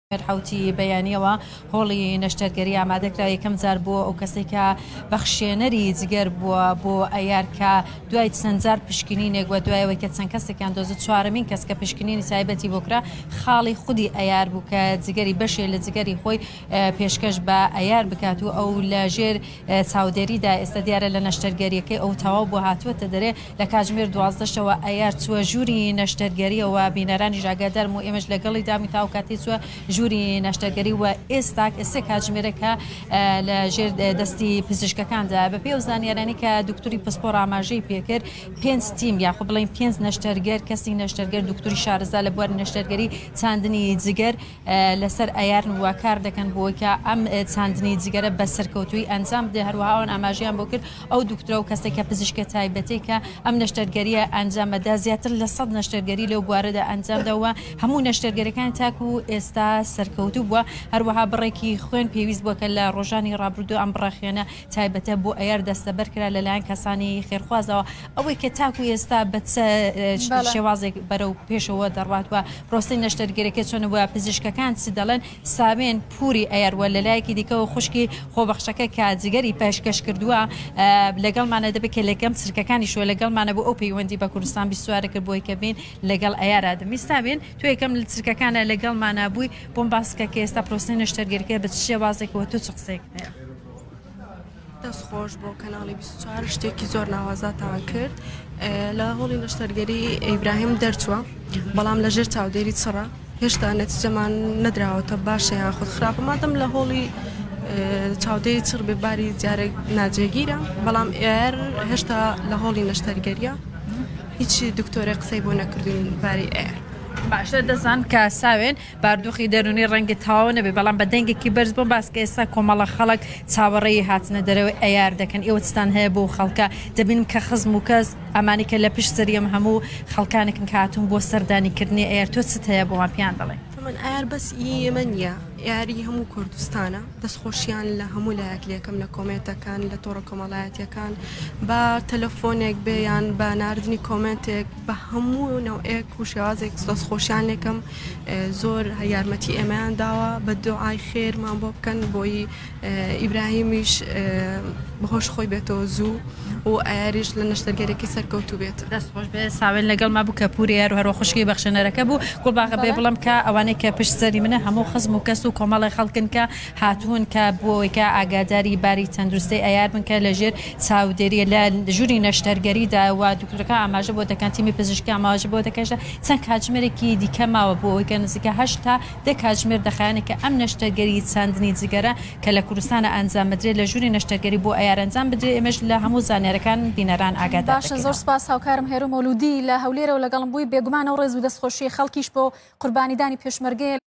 حوتی بەیانیەوە هۆڵی نەشتەرگەری ئامادەکرا یەکەم جار بووە ئەو کەسەی کە بەخشێنەری جگەر بووە بۆ ئەیار کە دوای چەند جار پشکنینێک وە دوایەوەی کە چەند کەسێکیان دۆزت چوارەمین کەس کە پشکنینی تایبەتی بۆ کرا خاڵی خودی ئەیار بوو کە جگەری بەشێ لە جگەری خۆی پێشکەش بە ئەیار بکات و ئەو لە ژێر چاودێری دا ئێستا دیارە لە نەشتەرگەریەکەی ئەو تەواو بوە هاتوەتە دەرێ لە کاتژمێر دوازدە شەوە ئەیار چوە ژوری نەشتەرگەریە وە بینەرانیش ئاگادارم و ئێمەش لەگەڵی دامی تاو کاتی چوە ژوری نەشتەرگەری وە ئێستا ئێسێ کاتژمێرەکە لە ژێر دەستی پزیشکەکاندا بە پێ و زانیارانی کە دکتوری پسپۆر ئاماژەی پێکرد پێنج تیم یاخو بڵین پێنج نەشتەرگەر کەسی نەشتەرگەر دکتوری شارزا لە بواری نەشتەرگەری چاندنی جگەر لەسەر ئایارن و کار دەکەن بۆوەیکە ئەم چاندنی جگەرە بە سەرکەوتووی ئەنجام بدەێت، هەروەها ئەوان ئاماژەیان بۆ کرد ئەو دوکتورە و کەسێکە پزیشکە تایبەتێکە ئەم نەشتەرگەرییە ئەنجامەدا زیاتر لە سەد نەشتەرگەری لەو بوارەدا ئەنجامدا و هەموو نەشتەرگەرەکان تاکو ئێستا سەرکەوتوو بووە، هەروەها بڕێکی خوێن پێویست بووە کە لە ڕۆژانی ڕابردوو ئەم بڕە خوێنە تایبەتە بۆ ئەیار دەستەبەر کرا لەلایەن کەسانی خێرخوازەوە. ئەوەی کە تاکو ئێستا بە چ شێوازێک بەرەو پێشەوە دەڕوات وە پرۆسی نەشتەرگەرەکە چۆن وە پزیشکەکان چ دەڵێن سامێن پوری ئەیەروە لەلایەکی دیکەوە خوشکی خۆبەخشەکە کە جگەری پێشکەش کردووە لەگەڵمانە دەبێت کە لەکەم چرکەکانی شوە لەگەڵمانە بۆ ئەو پەیوەندی بە کوردستان بیستوارە کرد بۆی کە بین لەگەڵ ئەیارا دەمی سامێن تۆ یەکەم لە چرکەکانە لەگەڵمانە بووی بۆم باسکە کە ئێستا پرۆسی نەشتەرگەرەکە بە چ شێوازێکەوە تۆ چ قسەیەک هەیە دەست خۆش بۆ کەناڵی 24 شتێکی زۆر ناوازاتان کرد لە هۆڵی نەشتەرگەری ئیبراهیم دەرچووە بەڵام لە ژێر چاودێری چڕە هێشتا نەتیجەمان نەدراوەتە باشە یان خود خراپە مادەم لە هۆڵی چاودێری چڕ بێ باری جارێک ناجێگیرە بەڵام ئێر هێشتا لە هۆڵی نەشتەرگەریە هیچی دکتۆرە قسەی بۆ نەکردوین باری ئێر باشە دەزان کە ساوێن باردوخی دەرونی ڕەنگە تەواو نەبێت بەڵام بە دەنگێکی بەرز بۆم باس کە ئێستا کۆمەڵە خەڵک چاوەڕێی هاتنە دەرەوەی ئەیار دەکەن ئێوە چتان هەیە بۆ خەڵکە دەبینم کە خزم و کەس ئەمانی کە لە پشت سەری ئەم هەموو خەڵکانێکن کە هاتون بۆ سەردانی کردنی ئەیار تۆ چت هەیە بۆمان پێیان بڵێ. من ئەیار بەس ئی ئێمە نیە ئەیار ئی هەموو کوردستانە دەست خۆشیان لە هەموو لایەک لێکەم لە کۆمێنتەکان لە تۆڕە کۆمەڵایەتیەکان با تەلەفۆنێک بێ یان بە ناردنی کۆمێنتێک بە هەموو نەوعێک و شێوازێک دەست خۆشیان لێکەم زۆر یارمەتی ئێمەیان داوە بە دوعای خێرمان بۆ بکەن بۆی ئیبراهیمیش بەهۆش خۆی بێتەوە زوو و ئایریش لە نەشتەرگەرێکی سەرکەوت و بێت دەست خۆش بێ ساوێن لەگەڵ ما بوو کە پوری یار و هەروە خوشکی بەخشێنەرەکە بوو گوڵباغە بێ بڵم کە ئەوانەی کە پشت سەری منە هەموو خزم و کەس و کۆمەڵی خەڵکن کە هاتوون کە بۆوەی کە ئاگاداری باری تەندروستەی ئەیار بن کە لە ژێر چاودێریە لە ژووری نەشتەرگەری دا و دکتۆرەکان ئاماژە بۆ دەکەن تیمی پزیشکی ئاماژە بۆ دەکەشە چەند کاتژمێرێکی دیکە ماوە بۆ ئەوەی کە نزیکە هەشت تا دە کاتژمێر دەخایەنێ کە ئەم نەشتەرگەری چاندنی جگەرە کە لە کوردستانە ئەنجام بدرێ لە ژووری نەشتەرگەری بۆ ئەیار ئەنجام بدرێ ئێمەش لە هەموو زانیارەکان بینەران ئاگادار دەکەینەوە. باشە زۆر سپاس هاوکارم هێرۆ مەولودی لە هەولێرەوە لەگەڵم بووی بێگومان و ڕێز و دەستخۆشی خەڵکیش بۆ قوربانیدانی پێشمەرگەیە.